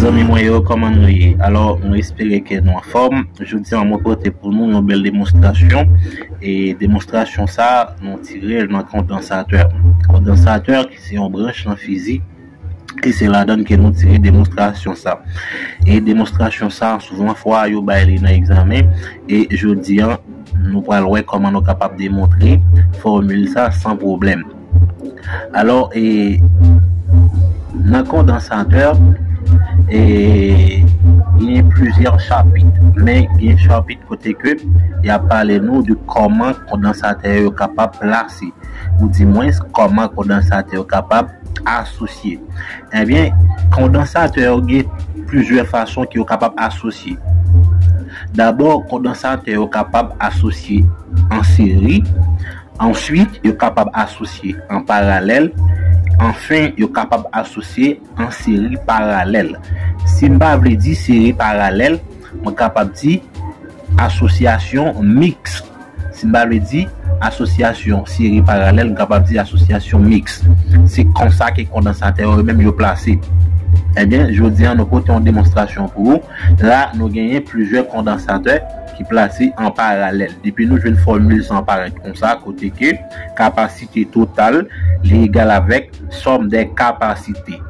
Zanmi mwen yo koman nou ye? Alò mwen espere ke nou anfòm, jodi an mwen pote pou nou yon bèl demonstrasyon e demonstrasyon sa nou tirel nan kondansatè, kondansatè ki se yon branch nan fizik. e se ladann ke nou tire demonstrasyon sa. E demonstrasyon sa souvan fwa yo bay li nan egzamen e jodi an nou pral wè kòman nou kapab demontre fòmil sa san pwoblèm. Alò e nan kondansatè e genyen plizyè chapit men gen chapit kote ke y ap pale nou de kòman kondansatè yo kapab plase ou di mwens kòman kondansatè yo kapab asosye. Ebyen, kondansatè yo gen plizyè fason ke yo kapab asosye. Dabò, kondansatè yo kapab asosye an seri, answit yo kapab asosye an paralèl, anfen yo kapab asosye an seri paralèl. Si m pa vle di seri paralèl, mwen kapab di asosyasyon miks. Simbabwe di, Asosyasyon, seri paralèl, m kapab di asosyasyon miks. Se konsa ke kondansatè yo menm yo plase. Ebyen, jodi an nou pote yon demonstrasyon pou ou. La a, nou genyen plizyè kondansatè ki plase an paralèl. Depi nou jwenn fòmil sa an parèt konsa, kote ke kapasite total li egal avèk sòm dè kapasite.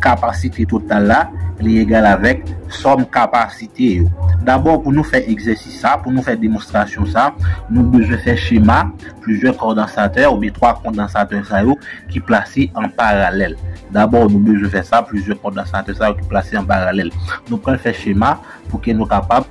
Kapasite total la li egal avèk sòm kapasite yo. Dabò pou nou fè egzèsis sa, pou nou fè demonstrasyon sa, nou bezwen fè chema plizyè kondansatè oubyen 3 kondansatè sa yo ki plase an paralèl. Dabò nou bezwen fè sa plizyè kondansatè sa yo ki plase an paralèl. Nou pral fè chema pou ke nou kapab.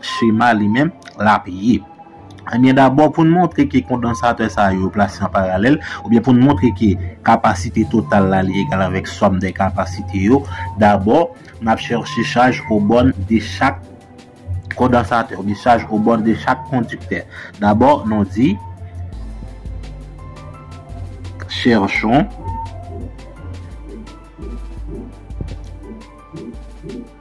Chema li menm, l ap ye. Ebyen dabò pou n montre ke kondansatè sa yo plase an paralèl, oubyen pou n montre ke kapasite total la li egal avèk sòm de kapasite yo, dabò n ap chèche chaj o bòn de chak kondansatè oubyen chaj o bòn de chak kondiktè. Dabò nou di Cherchons.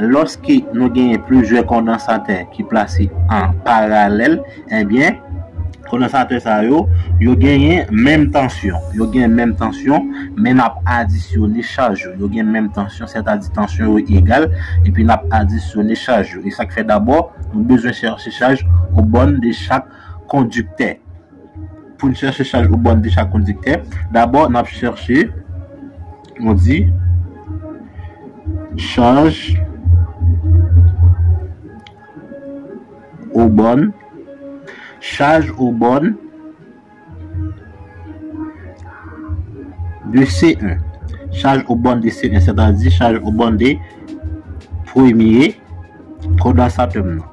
Lòske nou genyen plizyè kondansatè ki plase an paralèl, ebyen kondansatè sa yo, yo genyen menm tansyon, yo gen menm tansyon, men n ap adisyone chaj yo. Yo gen menm tansyon, sètadi tansyon yo egal, epi n ap adisyone chaj yo. E sa k fè dabò, nou bezwen chèche chaj obòn de chak kondiktè. Pou n chèche chaj ou bòn de chak kondiktè, dabò n ap chèche, nou di, chaj ou bòn, chaj ou bòn de C1, chaj ou bòn de C1, sètadi chaj ou bòn de premye kondansatè m nan.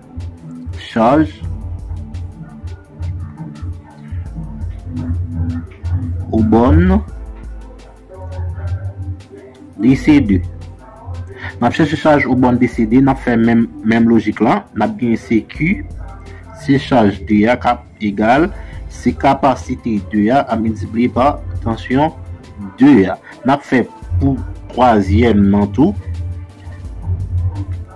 Chaj ou bon non. DCD. Nap chèche chaj ou bon DCD, nap fè menm menm lojik la, nap gen CQ, se chaj 2 a kap egal, se kapasite 2 a ap miltipliye pa tansyon 2 a. Nap fè pou twazyèm nan tou.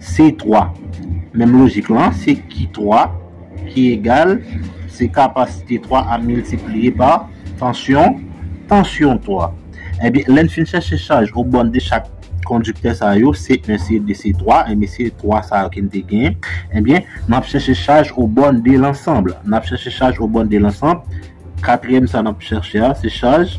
C3. Menm lojik lan, se Q3 ki egal, se kapasite 3 a miltipliye pa tansyon, tansyon 3. Ebyen, lè n fin chèche chaj o bòn de chak kondiktè sa yo, C1, C2, C3, ebyen se 3 sa yo ke n te genyen, ebyen, n ap chèche chaj o bòn de lansanb. N ap chèche chaj o bòn de lansanb, katriyèm sa n ap chèche a, se chaj.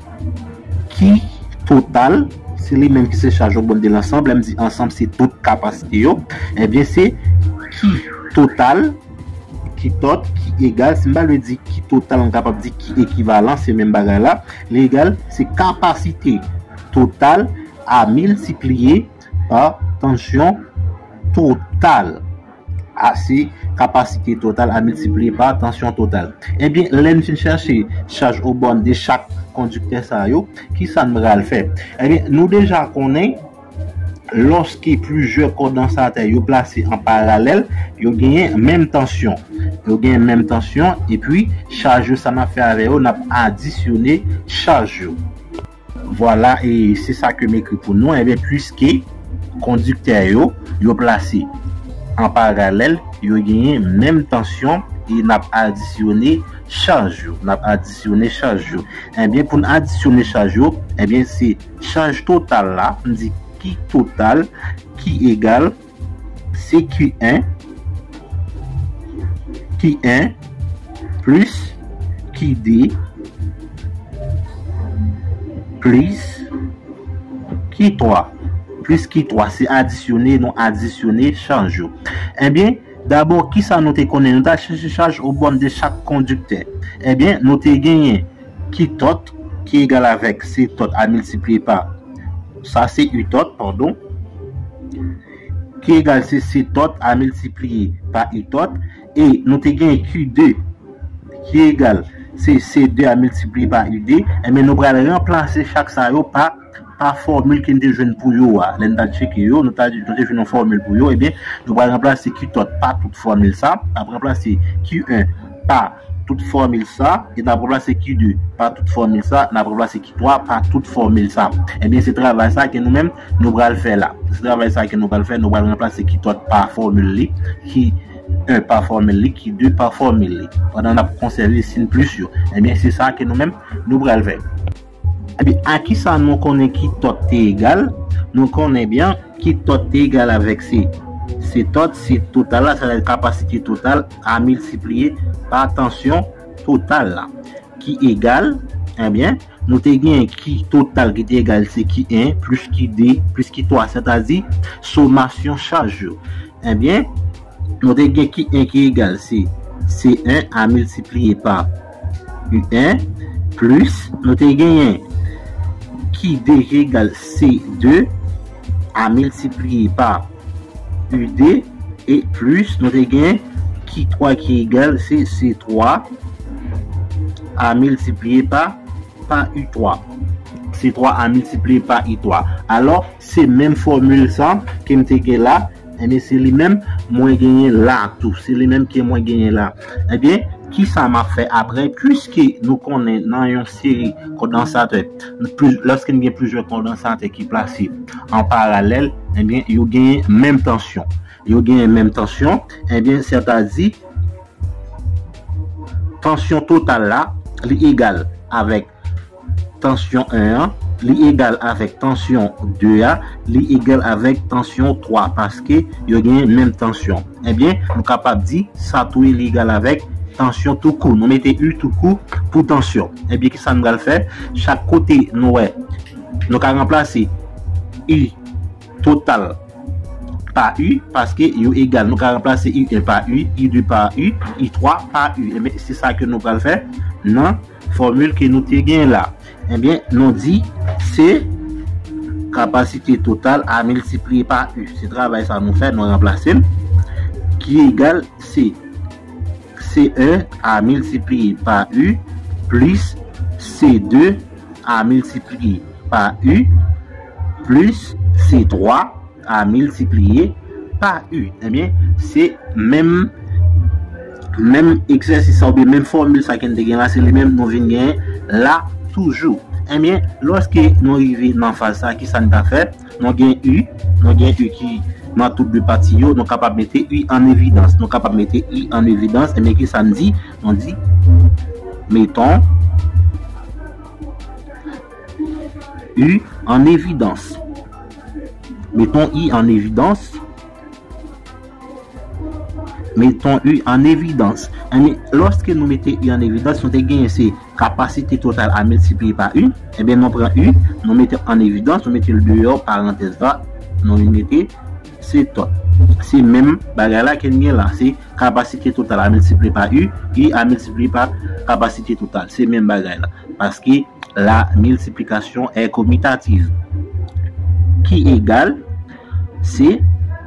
ki total, se li menm ki se chaj yo bon de lansanb, lè m di ansanb se tout kapasite yo, ebyen se ki total, ki tot, ki egal, si m pa vle di ki total m kapab di ki ekivalan, se menm bagay la, li egal, se kapasite total a miltipliye pa tansyon total. A se kapasite total a miltipliye pa tansyon total. Ebyen, lè n fin chèche chaj o bòn de chak kondiktè sa yo, ki sa n pral fè? Ebyen, nou deja konnen lòske plizyè kondansatè yo plase an paralèl, yo genyen menm tansyon. Yo genyen menm tansyon, epi chaj yo sa n ap fè avè yo, n ap adisyone chaj yo. Vwala e se sa ke m ekri pou nou, enben puiske kondiktè yo, yo plase an paralèl, yo genyen menm tansyon e n ap adisyone chaj yo, n ap adisyone chaj yo. Enben pou n adisyone chaj yo, enben se chaj total la, m di ki total, ki egal. CQN, QN, plus, QD, plis, Q3. Plis Q3 se adisyone, nou adisyone chaj yo. Ebyen, eh dabò, kisa nou te konnen? Nou ta chèche chaj obòn de chak kondiktè. Ebyen, eh nou te genyen. Ki tòt ki egal avèk se tòt a miltipliye pa sa se u tòt padon ki egal se se tòt a miltipliye pa u tòt e nou te gen q 2 ki egal se se 2 a miltipliye pa u 2 enben nou pral ranplase chak sa yo pa pa fòmil ke n te jwenn pou yo a, lè n ta tcheke yo, nou ta nou te jwenn yon fòmil pou yo, ebyen, nou pral ranplase Qtòt pa tout fòmil sa, n ap ranplase Q1 pa tout fòmil sa, e n ap ranplase Q2 pa tout fòmil sa, n ap ranplase Q3 pa tout fòmil sa. Ebyen, se travay sa ke nou menm nou pral fè la. Se travay sa ke nou pral fè, nou pral ranplase Qtòt pa fòmil li, Q1 pa fòmil li, Q2 pa fòmil li, pandan n ap konsève sin plis yo. Ebyen, se sa ke nou menm nou pral fè. Ebyen a kisa nou konnen ki tòt te egal? Nou konnen byen ki tòt te egal avèk se. Se tòt se total la, sa vle di kapasite total a miltipliye pa tansyon total la. Ki egal, ebyen, nou te gen ki total ki te egal se ki 1 plis ki 2 plis ki 3 sè ta di somasyon chaj yo. Ebyen, nou te gen ki 1 ki egal se se 1 a miltipliye pa. UN, plis nou te genyen QD ki egal CD a miltipliye pa UD, e plis nou te genyen Q3 ki egal CC3 a miltipliye pa pa U3. C3 a miltipliye pa U3. Alò, se menm fòmil sa ke m te gen la. Ebyen se li menm mwen genyen la tou. Se li menm ke mwen genyen la. Ebyen, kisa m ap fè apre? Piske nou konnen nan yon seri kondansatè, lòske n gen plizyè kondansatè ki plase an paralèl, ebyen yo genyen menm tansyon. Yo genyen menm tansyon, ebyen sètadi tansyon total la li egal avèk. tansyon 1 an li egal avèk tansyon 2 a li egal avèk tansyon 3 paske yo gen menm tansyon ebyen nou kapab di sa tou li egal avèk tansyon tou kou nou mete u tou kou pou tansyon ebyen ki sa nou pral fè chak kote nou wè nou ka ranplase u total pa u paske yo egal nou ka ranplase u 1 pa u u 2 pa u u 3 pa u ebyen se sa ke nou pral fè nan Fòmil ke nou te gen la. Ebyen, nou di, se kapasite total a miltipliye pa U. Se travay sa nou fè, nou ranplase l. Ki egal, se C1 a miltipliye pa U, plis C2 a miltipliye pa U, plis C3. a miltipliye pa u ebyen se menm menm egzèsis sa oubyen menm fòmil sa ke n te gen la se li menm nou vin gen la toujou ebyen lòske nou rive nan faz sa kisa n ta fè nou gen u nou gen u ki nan tout 2 pati yo nou kapab mete u an evidans nou kapab mete u an evidans ebyen kisa n di nou di meton U an evidans. Meton u an evidans. Meton u an evidans. Enben, lòske nou mete u an evidans, nou te genyen se kapasite total a miltipliye pa u. Enben, nou pran u, nou mete an evidans, nou mete l deyò parantèz la, nou vin mete se tot. Se menm bagay la ke n gen la. Se. Kapasite total a miltipliye pa U, U a miltipliye pa kapasite total. Se menm bagay la. Paske la miltiplikasyon è komitativ. Ki egal, se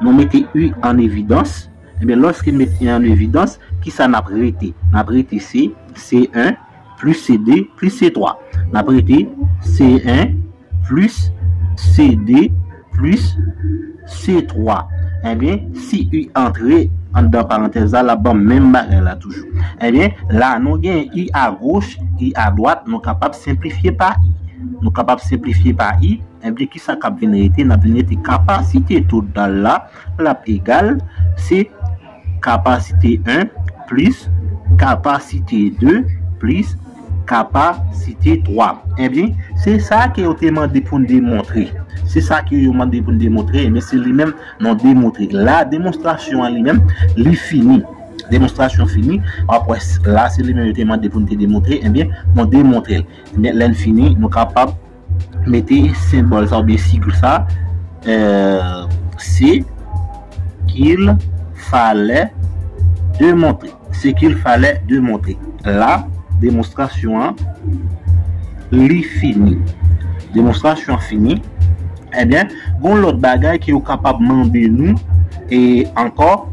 nou mete U an evidans. Ebyen, lòske nou mete U an evidans, kisa n ap rete? N ap rete se C1. plis CD plis C3 n ap rete C1 plis CD plis C3 enben si u antre anndan parantèz la l ap ban m menm bagay la toujou enben la nou gen u agoch u adwat nou kapab senplifye pa i nou kapab senplifye pa i enben ki sa k ap vin rete n ap vin rete kapasite total la l ap egal se Kapasite 1, plis, kapasite 2, plis, kapasite 3. Ebyen, se sa ke yo te mande pou n demontre. Se sa ke yo mande pou n demontre, ebyen, se li menm nou demontre. La, demonstrasyon an li menm, li fini. Demonstrasyon fini. W ap wè, la, se li menm yo te mande pou n te demontre, ebyen, nou demontre l. Ebyen, lè n fini, nou kapab. Mete senbòl sa oubyen sig sa Se kil falè de montre Se kil falè de montre La demonstrasyon an li fini Demonstrasyon an fini Ebyen, gon lòt bagay ke yo kapab mande nou e ankò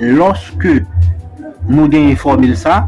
Lòske nou genyen fòmil sa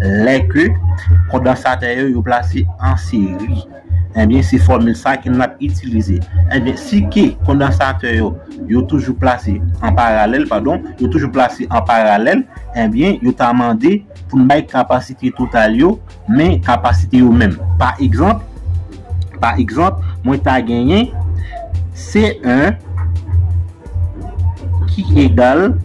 Lè ke kondansatè yo yo plase an seri, enbyen se fòmil sa ke n ap itilize. Enbyen si ke kondansatè yo yo toujou plase an paralèl, padon, yo toujou plase an paralèl, enbyen yo ta mande pou n bay kapasite total yo, men kapasite yo menm. Pa egzanp, pa egzanp, mwen ta genyen C1 ki egal.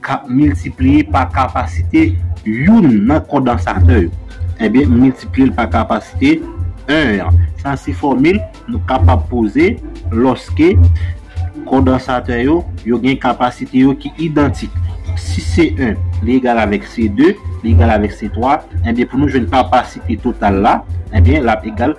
k ap miltipliye pa kapasite youn nan kondansatè yo. Ebyen, m miltipliye l pa kapasite 1 an. Sa se fòmil nou kapab poze lòske kondansatè yo, yo gen kapasite yo ki idantik. Si C1 li egal avèk C2, li egal avèk C3, ebyen pou nou jwenn kapasite total la, ebyen l ap egal.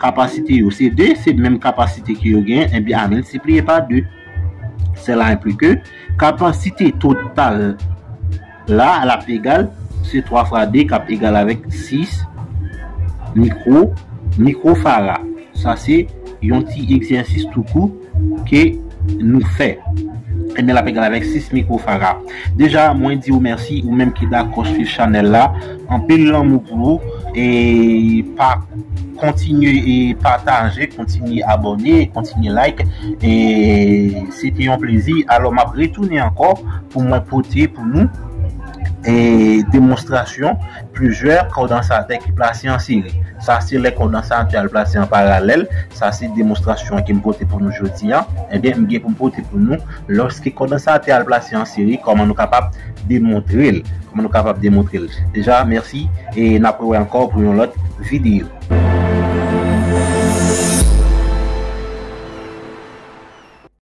Kapasite yo se 2, se menm kapasite ke yo genyen, enben a miltipliye pa 2. Sela enkli ke kapasite total la l ap egal, se 3 fwa 2 k ap egal avèk 6 mikwo, mikwo fara. Sa se yon ti egzèsis tou kou. ke nou fè ebyen lap egal avèk 6 micro farah deja mwen diw mèsi ou menm ki dakò swiv chanèl la anpil lanmou pou ou e pa kontinye e pataje kontinye abòne kontinye like e se te yon plezi alò map retounen ankò pou mwen pote pou nou e demonstrasyon. Plizyè kondansatè ki plase an seri. Sa se lè kondansatè a l plase an paralèl. Sa se demonstrasyon an ke m pote pou nou jodi an. Ebyen, m gen pou m pote pou nou, lòske kondansatè a l plase an seri, kòman nou kapab demontre l. Kòman nou kapab demontre l. Deja, mèsi e n ap rewè ankò pou yon lòt videyo.